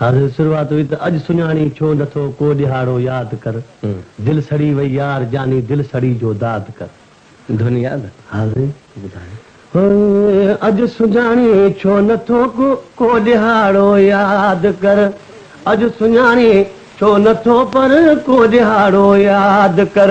حاضر شروعات هئي ته اڄ سڃاڻين ڇو نٿو ڪو ڏهاڙو ياد ڪر دل سڙي وئي يار جاني دل سڙي جو داد ڪر. ڌن ياد حاضرين ٻڌايو. هوء اڄ سڃاڻين ڇو نٿو ڪو ڏهاڙو ياد ڪر اڄ سڃاڻين ڇو نٿو پر ڪو ڏهاڙو ياد ڪر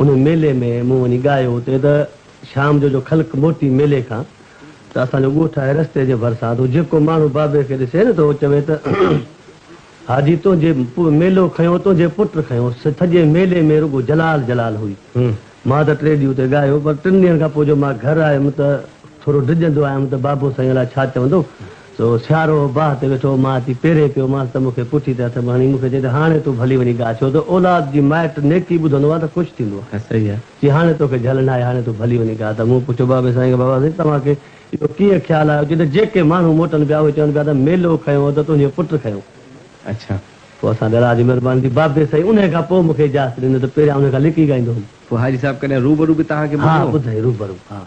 ان ميلي ۾ مون وڃي ڳايو اتي ته شام جو جو خلق موٽي ميلي کان ته اسان جو ڳوٺ آهي رستي جي ڀرسان تو جيڪو ماڻهو بابي کي ڏسي نه ته هو چوي ته حاجي تنهنجي ميلو کنيو تنهنجي پٽ کنيو سڄي ميلي ۾ رڳو جلال جلال هئي مان ته ٽي ڏينهن اتي ڳايو پر ٽن ڏينهن کان پوء جو مان گهر آيم ته ٿورو ڊڄندو آيم ته بابو سائين الاء ڇا چوندو سو سيارو باهه تي ويٺو، مان اچي پيري پيو مانس ته مون کي پٺي تي هٿ به هڻي مون کي چئي ته هاڻي تون ڀلي وڃي ڳاء ڇو ته اولاد جي مائٽ نيڪي ٻڌندو آهي ته خوش ٿيندو آهي صحيح آهي چي هاڻي توکي جهل ناهي هاڻي تون ڀلي وڃي ڳاء ته مون پڇيو بابي سائين کي بابا سائين توهان کي اهو ڪيئن خيال آيو چي ته جيڪي ماڻهو موٽن پيا اهي چون پيا ته ميلو کنيو ته تنهنجو پٽ کنيو اڇا. پوء اسان ڏراج جي مهرباني ٿي بابي سائين انهي کان پوء مون کي اجازت ڏنو ته پهريان انهي کان لڪي ڳائيندو هوم. پوء حاجي صاحب ڪڏهن روبرو به توهان کي ٻڌو؟ ها ٻڌئي روبرو ها.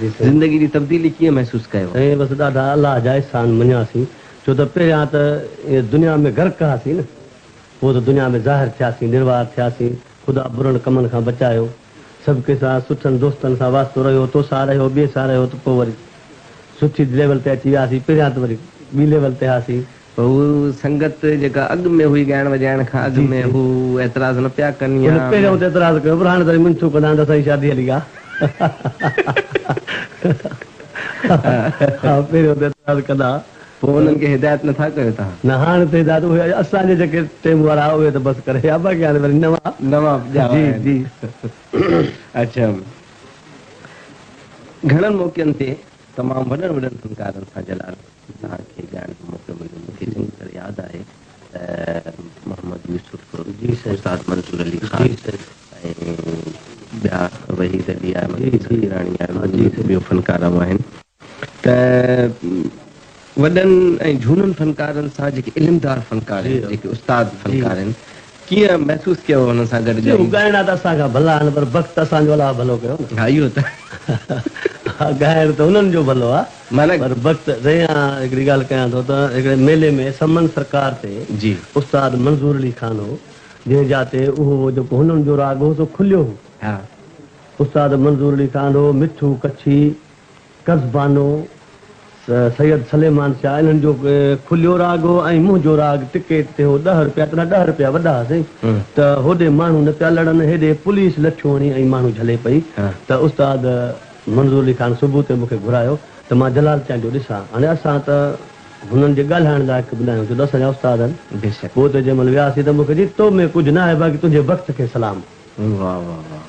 زندگي جي تبديلي ڪيئن محسوس ڪيو؟ سائين بس ڏاڍا الله جا احسان مڃياسين ڇو ته پهريان ته ائين دنيا ۾ غرق هئاسين نه پوء ته دنيا ۾ ظاهر ٿياسين نروار ٿياسين خدا برن ڪمن کان بچايو سڀڪي سان سٺن دوستن سان واسطو رهيو تو سان رهيو ٻئي سان رهيو ته پوء وري سٺي ليول تي اچي وياسين پهريان ته وري ٻي ليول تي هئاسين هو سنگت جيڪا اڳ ۾ هئي ڳائڻ وڄائڻ کان اڳ جي ۾ جي. هو اعتراض نه پيا ڪن يا. هن پهريائون ته اعتراض ڪيو پر هاڻي ته وري منٿون ڪندا آهن ته اسان جي شادي هلي آ. ها پهريائون ته اعتراض ڪندا ها. پوء انهن کي هدايت نه ٿا ڪيو توهان. نه هاڻي ته هدايت اهي اسان جي جيڪي ٽيم وارا ها اهي ته بس ڪري ويا باقي هاڻي وري نوان. نوان ڄاوا جي آهن. جي. اچا گهڻن موقعن تي تمام وڏن وڏن فنڪارن سان جلال. جناح کي ڳائڻ جو موقعو مليو مون کي چڱي طرح ياد آهي ته محمد يوسف، استاد منظور علي خان ۽ ٻيا وحيد علي احمد ۽ سخيراڻي احمد ۽ ٻيو فنڪار آئون آهن ته وڏن ۽ جهونن فنڪارن سان جيڪي علمدار فنڪار آهن جيڪي استاد فنڪار آهن ڪيئن محسوس ڪيو هن سان گڏ ڳائي؟ هو ڳائڻا ته اسان کان ڀلا آهن پر بخت اسان جو الاهه ڀلو ڪيو نه. ها اهو ته. ها ڳائڻ ته انهن جو ڀلو آ پر بخت. سائين آء هڪڙي ڳالهه ڪيان ٿو ته هڪڙي ميلي ۾ سمن سرڪار تي استاد منظور علي خان هو جنهن جا تي اهو هو جيڪو هنن جو راڳ هو سو کليو هو استاد منظور علي خان هو مٺو ڪڇي قز بانو، سيد سليمان شاهه انهن جو کليو راڳ هو ۽ منهنجو راڳ ٽڪيٽ تي هو ڏهه روپيا تڏهن ڏهه روپيا وڏا ها سائين ته هوڏي ماڻهو نه پيا لڙن هيڏي پوليس لٺيون هڻي ۽ ماڻهو جهلي پئي ته استاد منظور علي خان صبح تي مونکي گهرايو ته مان جلال چانڊ جو ڏسان هاڻي اسان ته هنن جي ڳالهائڻ لائق به ناهيون ڇو ته اسان جا استاد آهن پوء ته جنهن مهل وياسين ته مونکي چيائين تو ۾ ڪجهه ناهي باقي تنهنجي بخت کي سلام. واھ واھ واھ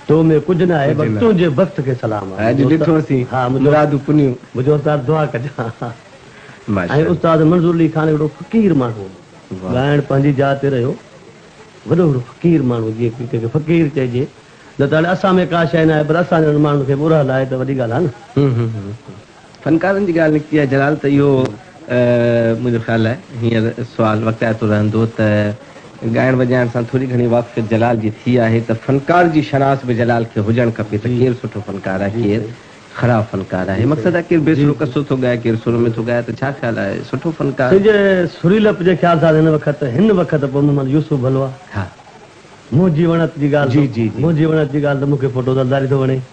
تو ۾ ڪجھ ناھي بس تنھنجي بخت کي سلام آھي اڄ ڏٺو اسين مرادون پنيون. منھنجو استاد دعا ڪجان ۽ استاد منظور علي خان ھڪڙو فقير ماڻھو ھو ڳائڻ پنھنجي جاء تي رھيو وڏو ھڪڙو فقير ماڻھو جيئن ڪنھن کي فقير چئجي نه ته ھاڻي اسان ۾ ڪا شئي ناھي پر اسان جھڙن ماڻھن کي به اورھل آھي ته وڏي ڳالھه آھي نه. فنڪارن جي ڳالهه نڪتي آهي جلال ته اهو منهنجو خيال آهي هينئر سوال وقعائتو رهندو ته ڳائڻ وڄائڻ سان ٿوري گهڻي واقفيت جلال جي ٿي آهي ته فنڪار جي شناس به جلال کي هجڻ کپي ته ڪير سٺو فنڪار آهي ڪير خراب فنڪار آهي مقصد آهي ڪير بي سرو قصو ٿو ڳائي ڪير سر ۾ ٿو ڳائي ته ڇا خيال آهي سٺو فنڪار سنجه سريلپ جي خيال سان هن وقت هن وقت پوء محمد يوسف ڀلو آهي منهنجي وڻت جي ڳالهه ته منهنجي وڻت جي ڳالهه ته مون کي ڦوٽو زرداري ٿو وڻي.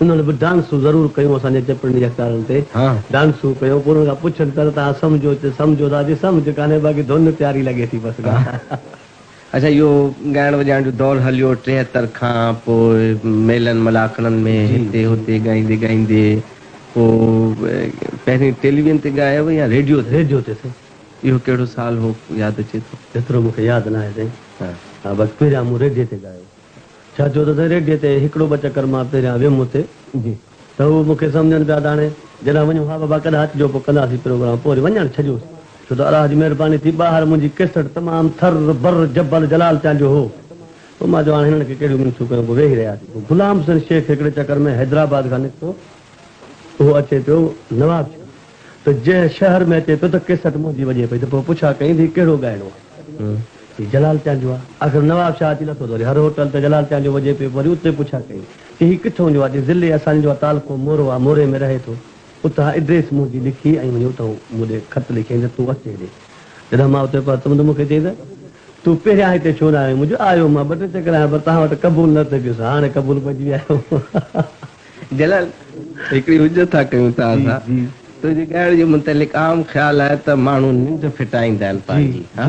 انهن به ڊانسون ضرور ڪيون اسان جي ٽپڙن يا ڪارن تي ڊانسون ڪيون پوء انهن کان پڇن ته توهان سمجهو ته سمجهو ٿا جي سمجهه ڪانهي باقي ڌن پياري لڳي ٿي بس ڳالهه. اڇا اهو ڳائڻ وڄائڻ جو دور هليو ٽيهتر کان پوء ميلن ملاکڙن ۾ هتي هتي ڳائيندي ڳائيندي پوء پهرين ٽيليوين تي ڳايو هو يا ريڊيو تي؟ ريڊيو تي سائين. اهو ڪهڙو سال هو ياد اچي ٿو؟ ايترو مون کي ياد ناهي سائين ها بس پهريان مون ريڊيو تي ڳايو هو. ڇا ٿيو اٿس؟ ريڊيء تي هڪڙو ٻه چڪر مان پهريان ويم اتي ته هو مون کي سمجهن پيا ته هاڻي جڏهن وڃون ها بابا ڪڏهن اچجو پوء ڪنداسين پروگرام پوء وري وڃڻ ڇڏيوس ڇو ته الله جي مهرباني ٿي ٻاهر منهنجي ڪيسٽ تمام ٿر بر جبل جلال تيان جو هو پوء مان چيو هاڻي هنن کي ڪهڙيون مينسون ڪيون پوء ويهي رهياسين پوء غلام حسين شيخ هڪڙي چڪر ۾ حيدرآباد کان نڪتو اهو اچي پيو نوابشاهه ته جنهن شهر ۾ اچي پيو ته ڪيسٽ منهنجي وڄي پئي ته پوء پڇا ڪئين ته هي ڪهڙو ڳائڻو آهي؟ هي جلال چانڊيو آهي. آخر نواب شاهه اچي لٿو ته وري هر هوٽل ته جلال چانڊيو وڄي پيو. وري اتي پڇا ڪئين ته هي ڪٿون جو آهي؟ چيس ضلعي اسان جو آهي، تعلقو مورو آهي، موري ۾ رهي ٿو. اتان ايڊريس منهنجي لکي ۽ وڃي اتان مون ڏي خط لکيائين ته تون اچ هيڏي. جڏهن مان اتي پهتم ته مون کي چيائين ته تون پهريان هتي ڇو نه آيو آهين؟ مون چيو آيو مان ٻه ٽي چڪر آهيان پر توهان وٽ قبول نه ٿي پيس. هاڻي قبول پئجي ويا آهيو. جلال، هڪڙي حجت ٿا ڪيون ته اسان تنهنجي ڳائڻ جي متعلق عام خيال آهي ته ماڻهو ننڊ ڦٽائيندا آهن پنهنجي ها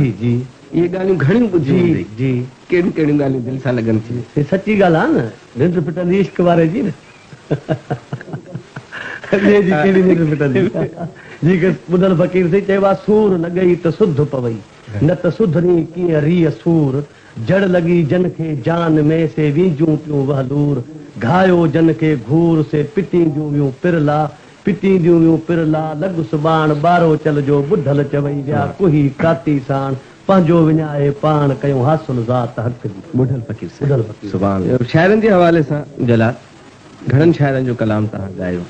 اهي ڳالهيون گهڻيون ٻڌيون هوندئي ڪهڙيون ڪهڙيون ڳالهيون دل سان لڳن ٿيون. هي سچي ڳالهه آهي نه ننڊ ڦٽندي عشق واري جي نه ٻئي جي ڪهڙي ننڊ ڦٽندي جي کيس ٻڌل فقير سائين چيو آهي سور لڳئي ته سڌ پوئي نه ته سڌرين ڪيئن ريء سور جڙ لڳي جن کي جان ۾، سي وينجون پيون وهلور، گهايو جن کي گهور، سي پٽينديون ويون پر لا، پٽينديون ويون پر لا، لڳ سٻاڻ، ٻارو چل جو، ٻڌل چوئي ويا، ڪوهي ڪاتي ساڻ، پنهنجو وڃائي پاڻ، ڪيون حاصل ذات حق جي. ٻڍل فقير سين سبحان الله شاعرن جي حوالي سان جلا گهڻن شاعرن جو ڪلام توهان ڳايو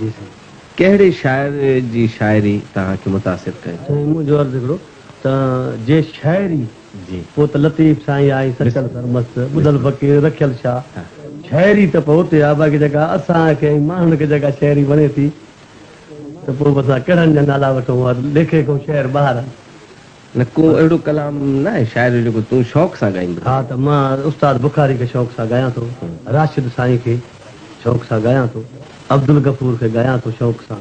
جي سائين ڪهڙي شاعر جي شاعري توهان کي متاثر ڪيو. سائين منهنجو عرض هڪڙو ته جي شاعري. پوء ته لطيف سائين آ ۽ سچل سرمست، ٻڌل فقير، رکيل شاهه. شاعري ته پوء اتي آ، باقي جيڪا اسان کي ۽ ماڻهن کي جيڪا شاعري وڻي ٿي ته پوء به اسان ڪهڙن جا نالا وٺون ها ليکي ڪو شعر ٻاهر آڻ. نه ڪو اهڙو ڪلام ناهي شاعر جو جيڪو تون شوق سان ڳائيندو هئين. ها ته مان استاد بخاري کي شوق سان ڳايان ٿو، راشد سائين کي شوق سان ڳايان ٿو، عبدالغفور کي ڳايان ٿو شوق سان.